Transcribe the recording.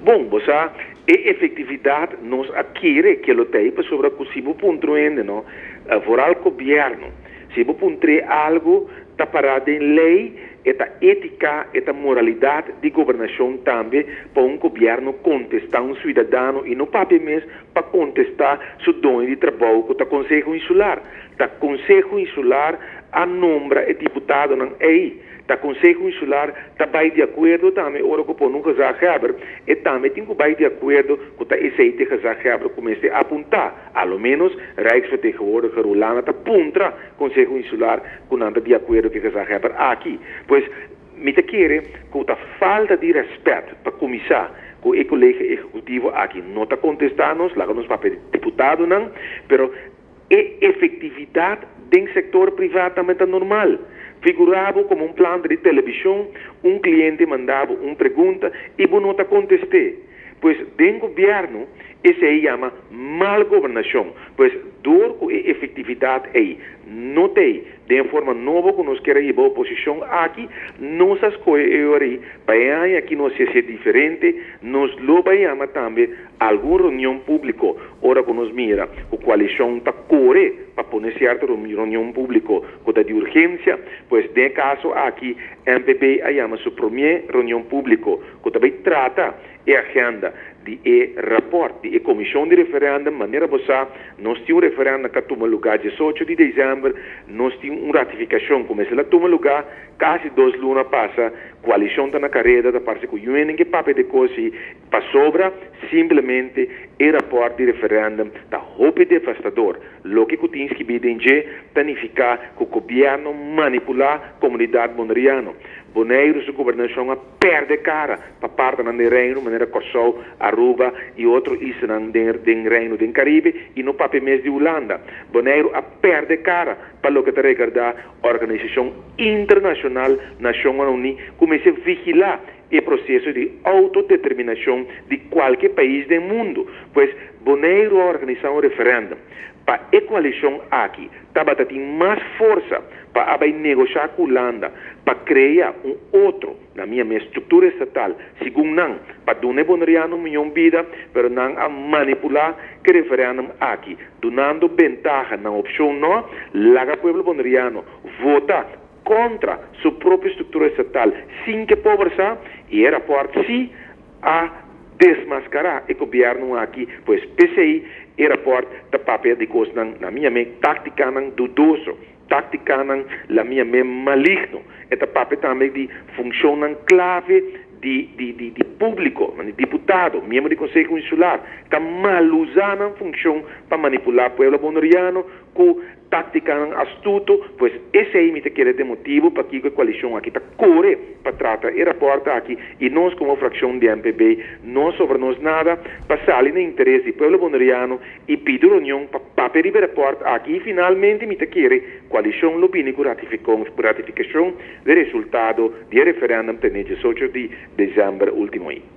Bon, bo sa, e efektividat nos a kere ke lo ta ei pasobra ku si bo pun truende no, vooral gobièrnu, si bo pun tree algu ta pará den lei, e ta étika, e ta moralidat di gobernashon tambe pa un gobièrnu kontestá un suidadano i no papia mes pa kontestá su doño di trabou ku ta Konseho Insular. Ta Konseho Insular a nombra e diputadonan ei, Ta Conseho Insular ta bai di acuerdo tambe ora cu pone un gezaghebber, e tambe tin cu bai di acuerdo cu ta esey t'e gezaghebber cu mester a punta, a lo menos Rijksvertegenwoordiger Hollana ta puntra Conseho Insular cu nan ta di acuerdo c'e gezaghebber aki. Pues, mi ta kere cu ta falta di respet, pa cuminsa, cu e Colege Ejecutivo aki no ta contesta nos, laga nos papia di diputadonan, pero, E efektividat den sektor priva tambe ta normal. Figurá bo komo un planta di telebishon, un kliente manda bo un pregunta i bo no ta kontest'é. Pues den gobièrnu, esei yama mal gobernashon, pues dor ku e efektividat ei no t'ei Den e forma nobo ku nos kere hiba oposishon aki, nos a skohe e ora ei pa e aña aki nos hes'é diferente, nos lo bai yama tambe algun reunion públiko ora ku nos mira ku koalishon ta kore pa pone sierto reunion públiko ku ta di urgensia, pues den e kaso aki NPB a yama su promé reunion públiko ku ta bai trata e agenda di e raport di e Comishon di Referendum, manera bo sa, nos tin un referendum ka tuma luga diesocho di december, nos tin un ratificacion cu mester la tuma luga, casi dos luna pasa, coalicion ta na careda, ta parce cu UNN ke papia de cosi, pasobra simplemente e raport di referendum ta hopi devastador, loke cu tin skibi den dje ta nifica cu gobierno manipula comunidad Bonaireano, Boneiru su gobernacion a. perde cara pa partenan den Reino, manera Kòrsou, Aruba i otro islanan den Reino den Karibe i no papia mes di Hulanda. Boneiru a perde cara pa loke ta regardá Organisashon Internashonal Nashonnan Uní ku mester vigilá e proseso di outodeterminashon di kualke pais den mundu. Pues, Boneiru a organisá un referèndum. Pa e coalicion aki tabata tin mas forsa pa a bay negociá cu Hulanda pa crea un otro, na mia mes, structura estatal, segun nan, pa duna e Bonerianon miyon bida, pero nan a manipulá cu e referendum aki, dunando bentaha na opcion no, laga pueblo Boneriano vota contra su propio structura estatal sin ke pober sa, y e rapport sí a desmascará e gobierno aki, pues p'esey e rapport ta papia di cosnan, na mi amen, tácticanan dudoso, tácticanan la mi amen maligno. E ta papia tambe di funcionnan clave di di di di publico, mandi diputado, miembro di Conseho Insular, ta maluza nan funcion pa manipulá pueblo Boneriano cu Táktikanan astuto, pues esei mi ta kere ta e motibu pakiko e koalishon aki ta kore pa trata e rapòrt aki i nos komo frakshon di MPB no sobra nos nada pa sali na interes di pueblo Boneriano i pidi reunion pa papia riba e rapòrt aki i finalmente mi ta kere koalishon lo bini ku ratifikashon di resultado di e referendum ta e diesocho di desèmber último i